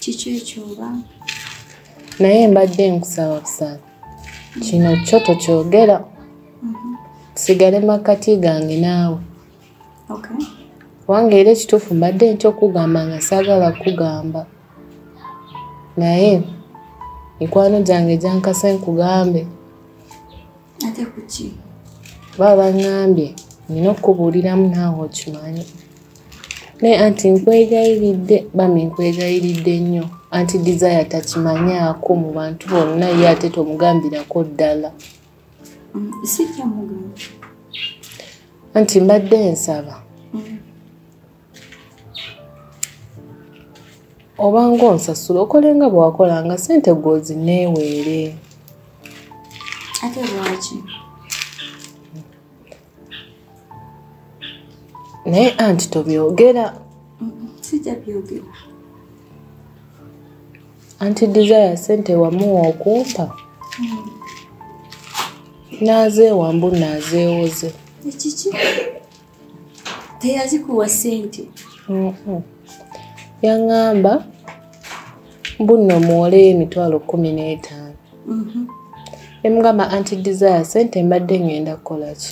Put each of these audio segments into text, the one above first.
kiki ekyoba naye mbadde nkusaba busaba kino kyo tokyogera mhm. sigale makkati gange naawe kubanga era ekituufu mbadde nti okugamba nga saagala kugamba naye mikwano gyange gyankase nkugambe ate kuki baba bangambye nina okukubuuliramu naawe okimanyi naye anti nkwegayiridde bambi nkwegayiridde nnyo anti desire takimanyaako mu bantu bonna ye ate tomugambirako ddala mm, anti mbadde nsaba mm. obanga onsasula okole nga bwewakola nga sente gwozi neeweere ate lwaki naye anti tobyogera sijja byogera anti desire sente wamuwa okumpa hmm. naazeewambu naazeewoze ekiki teyazikuwa sente mm-hmm. yaŋamba mbuno muwole emitwalo kumi n'etaano mm-hmm. emugamba anti desire sente mbadde ŋŋenda kukolaki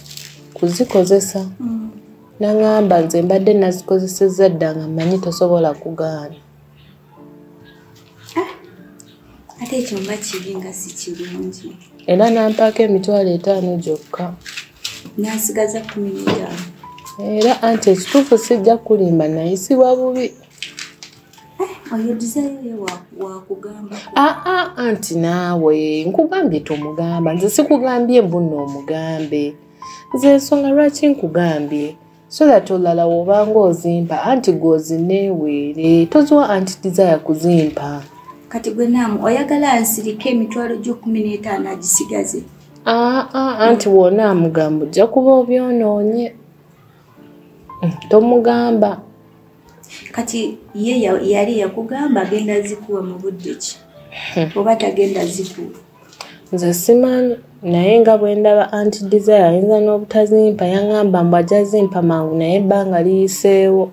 kuzikozesa mm. naŋamba nze mbadde nazikozesezza dda nga mmanyi tosobola kugaana ate ekyo nga kibi nga si kirungi era nampaako emitwalo etaano gyokka nasigaza kumi n'etaano era anti ekituufu sijja kulimba naye siwa bubi eh, oyo dizayo wakugamba aa ah, ah, anti naawe nkugambye tomugamba nze sikugambye mbuno omugambe nze ensonga lwaki nkugambye so that olala wobanga ozimpa anti gwozineweere toziwa anti desire kuzimpa kati gwe naamu oyagala nsirika emitwalo gyokumi n'etaano agisigaze aa ah, ah, anti wona amugamba ojja kuba obyonoonye hmm, tomugamba kati ye yali yakugamba agenda zikuwa mu budde ki hmm. oba tagenda zikuwa nze simanyi naye nga bwe ndaba anti desire ayinza n'obutazimpa yaŋamba mbu ajja zimpa mangu naye ebbanga liyiseewo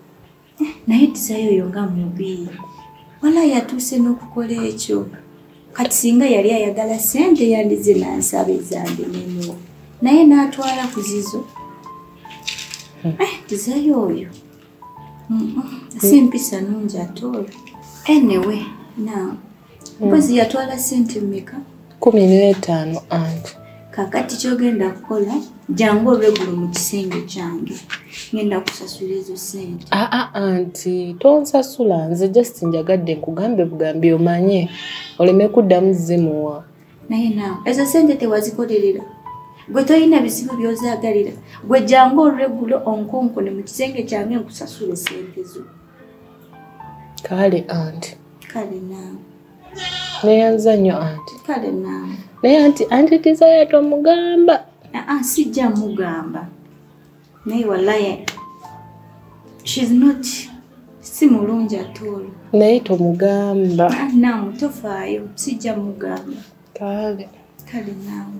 naye desire oyo nga mubi wala yatuuse n'okukola ekyo kati singa yali ayagala sente yandize nansaba ezange neno naye n'atwala ku zizo hmm. eh, desire oyo si mpisa nungi atoolo anyway now mm. mpozi yatwala sente mmeka kumi n'etaano anti kakati kyogenda kukola jangu olwegulo mu kisenge kyange ngenda kusasula ezo sente aa ah, ah, anti tonsasula nze just njagadde nkugambe bugambi omanye oleme kuddamu zimuwa naye naawe ezo sente tewazikolerera gwe tolina bizibu byozagalira gwe jangu olweggulo onkonkone mu kisenge kyange nkusasula esente zo kale anti kale naawe neyanza nnyo anti kale naawe naye anti anti tizaya tomugamba aa ah, ah, sijja mugamba naye walaye shes not si mulungi atoolo naye tomugamba ah, namu tofaayo sijja mugamba kale kale namu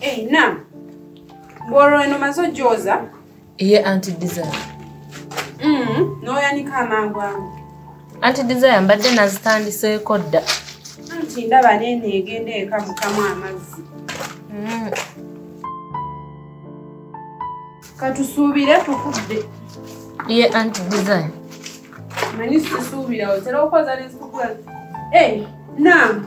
Hey, eh, na bwolwo eno maze ojooza ye anti desire mm, n'oyanika amangu amu anti desire mbadde nazitandiseeko dda anti ndaba neeno egenda eka mukamu amazzi mm. katusuubire tukudde ye anti desire manyi sisuubira otera okoza nezikukula hey, eh, nam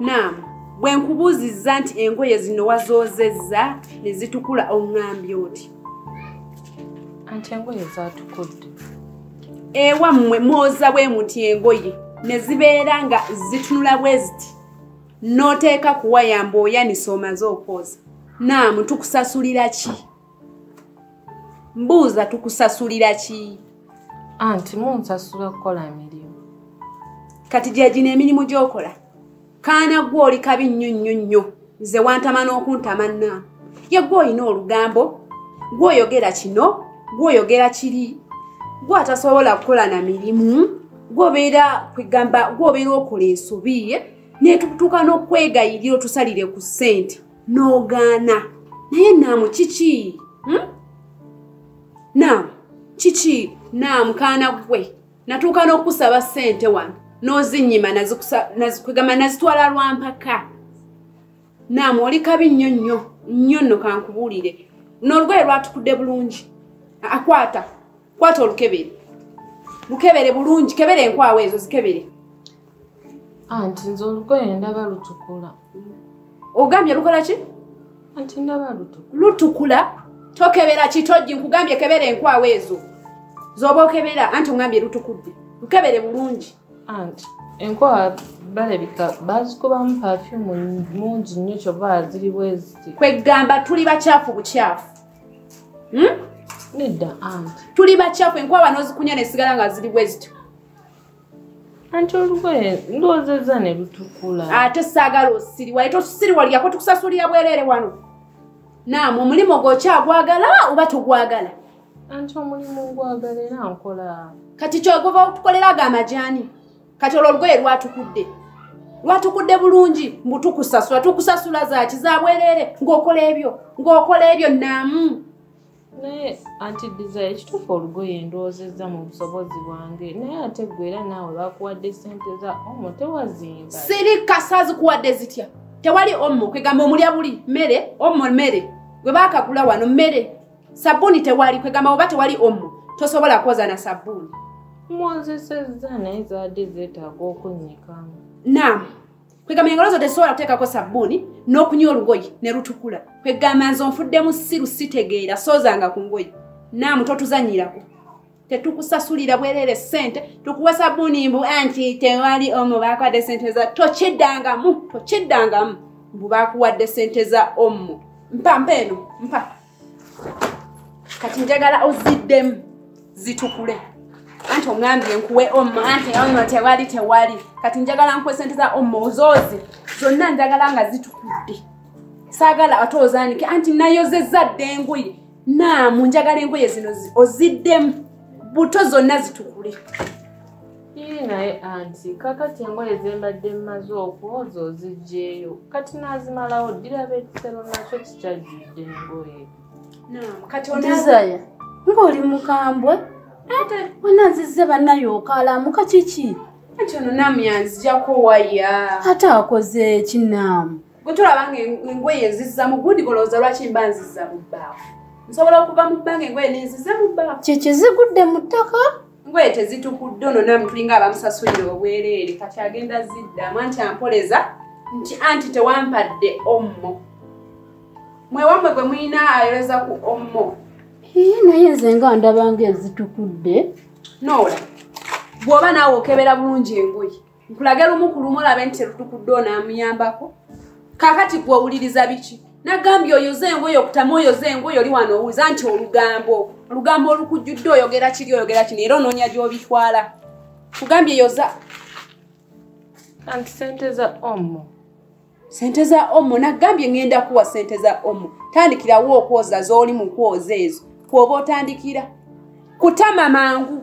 nam bwe nkubuuzizza nti engoye zino wazoozezza ne zitukula oŋŋambye oti anti engoye zaatukudde ewammwe mwoza bwe muti engoye ne zibeera nga zitunula bwe ziti n'oteeka kuwayamba oyanisa omaze okwoza naamu tukusasulira ki mbuuza tukusasulira ki anti munsasula kukola mirimu kati gyegino emirimu gyokola kaana gwe oli kabi nnyo nnyo nnyo nze wantama n'okuntama na ye gwe olina olugambo gweoyogera kino gweoyogera kiri gwe atasobola kukola na mirimu gwobeera kwegamba gwobeera okola ensobi netutuuka n'okwegayirira otusalire ku ssente n'ogaana naye naamu kiki hmm? naamu kiki naamu kaana gwe natuuka n'okusaba ssente wano n'ozinyima nazikwegamba nazitwala lwa mpaka naamu oli kabi nnyo nnyo nnyo nno kankubuulire n'olugoye lwatukudde bulungi akwata kwata olukebere lukebere bulungi kebere enkwawa ezo zikebere anti nze olugoye ndaba lutukula ogambye lukola ki anti ndaba lutukula lutukula tokebera kitojji nkugambye kebera enkwawa ezo zoba okebera anti ongambye lutukudde lukebere bulungi anti enkwawa balabika bazikubamu pafyumu mungi nnyo kyova ziri bweziti kwegamba tuli bakyafu bukyafu hmm? nedda anti tuli bakyafu enkwawa nozikunya nesigala nga ziri bweziti anti olugoye ndowoozezza ne lutukula ate saagala osiriwa ete osiriwaliyako tukusasulira bwereere wano naamu omulimu gwokyagwagala oba tugwagala anti omulimu ngwagala era nkola kati kyoguva okutukolera ago amajaani kati olwo olugoye lwatukudde lwatukudde bulungi mbu tukusasula tukusasula zaki zabwereere ng'okola ebyo ng'okola ebyo naamu naye anti desire ekituufu olugoye ndowoozezza mu busobozi bwange naye ate gwe era naawe bakuwadde sente za omo tewazimba siri kasa zikuwadde zitya tewali omo kwegamba omulya buli mmere omo mmere gwe bakagula wano mmere sabbuuni tewali kwegamba oba tewali omo tosobola kwoza na sabbuuni mwozesezza naye zaadde zeetaaga okunnyikamu naamu kwegamba engalo zo tezisobola kuteekako sabbuuni n'okunywa olugoyi ne lutukula kwegamba nze onfudde mu siru sitegeera soozanga ku ngoyi naamu totuzanyirako tetukusasulira bwerere sente tukuwa sabuni mbu anti tewali omu bakuwadde sente za tokiddangamu tokiddangamu mbu bakuwadde sente za omu mpa mpa eno mpa kati njagala oziddemu zitukule anti ongambye nkuwe omu anti ono tewali tewali kati njagala nkuwe sente za omu ozooze zonna njagala nga zitukudde saagala ate ozanike anti nayozezza dda engoye naamu njagala engoye zino oziddemu buto zonna zitukule Ii naye anti kakati engoye zembadde mmaze okwoza ozijjeeyo kati n'azimalawo ddira b'ekisero nakyo kikyajjudde engoye desire ng'oli mukambwe ate wena nzizze bannayo okaalamuka kiki anti ono naamu yanzijako waya ate akoze ki naamu gwe tolaba nga engoye nzizza mu gundi golowooza lwaki mba nzizza mu bbaafu nsobola okuva mu bbanga engoye nenzize mu bbanga kyekyezigudde mu ttaka ngoye tezitukudde ono namu tulinga abamusasulira obwereere kati agenda ziddamu anti ampoleza nti anti tewampadde ommo mwewamwe gwe mulina ayoleza ku ommo iye naye nze nga ndabanga ezitukudde noola bw'oba naawe okebera bulungi engoye nkulage lumu ku lumu olabe nti terutukudde onaamuyambako kakati gwe owuliriza biki nagambye oyoze engoye okutamu oyoze engoye oli wano owuliza nti olugambo olugambo olukujjudde oyogera kiri oyogera kino era onoonya gy'obitwala kugambye yoza anti sente za omu sente za omo nagambye ngenda kuwa sente za omo tandikirawo okwoza zoli mu kwoza ezo kwoba otandikira kutama mangu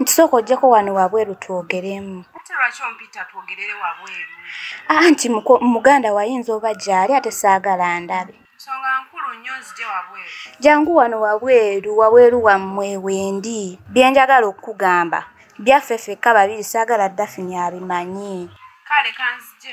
nti sooka ojjeko wano wabweru twogeremu anti muganda wayinza oba gyali ate saagala ndabe jangu wano wabweru wabweru wammwe wendi byenjagala okukugamba byaffe fekka babiri saagala dafini abimanyi kale kanzije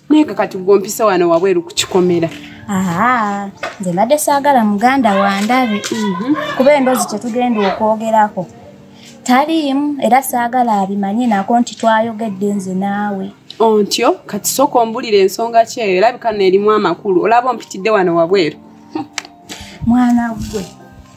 naye kakati gwompisa wano wabweru ku kikomera nze mbadde saagala muganda wandabe mhm. kuba endoozi kyetugenda okwogerako taliimu era saagala abimanye nako nti twayogedde nze naawe ontyo kati sooka ombulira ensonga kyeyo erabika neerimu amakulu olaba ompitidde wano wabweru mwana gwe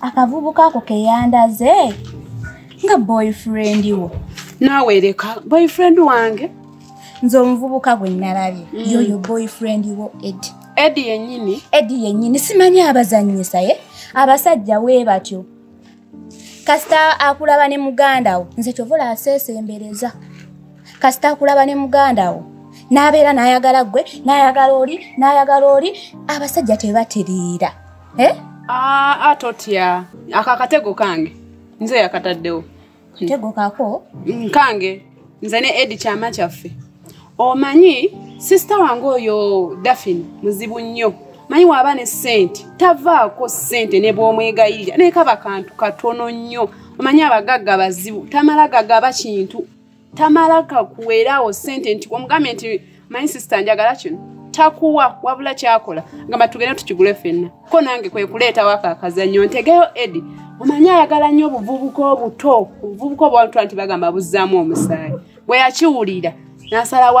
akavubuka ako keyandaze nga boyfriend wo naawe leka boyfriend wange nze omuvubuka gwe nalabye mm. yoyo boyfriend wo ed ed yenyini ed yenyini simanyi abazanyisa ye abasajja we batyo kasita akulaba ne muganda wo nze kyova olaseesembereza kasita akulaba ne muganda wo n'abeera n'ayagala ggwe n'ayagala oli n'ayagala oli abasajja tebatereera eh? ah, ah, totya ako akatego kange nze yakataddewo katego kako mm, kange nze ne edi kyama kyaffe omanyi sisita wange oyo dafin muzibu nnyo manyi waaba ne sente tavaako sente ne bwomwegayirira naye kaba kantu katono nnyo omanyi abagagga bazibu tamala gagaba kintu tamala kakuweera awo sente nti omugambe nti my sister njagala kino takuwa wabula kyakola ngamba tugende tukigule fenna ko nange kwe kuleetawo ako akazannyo ntegeyo edi omanyi ayagala nnyo obuvubuka obuto obuvubuka obwantu nti bagamba buzzaamu omusaayi bwe yakiwulira nasalawo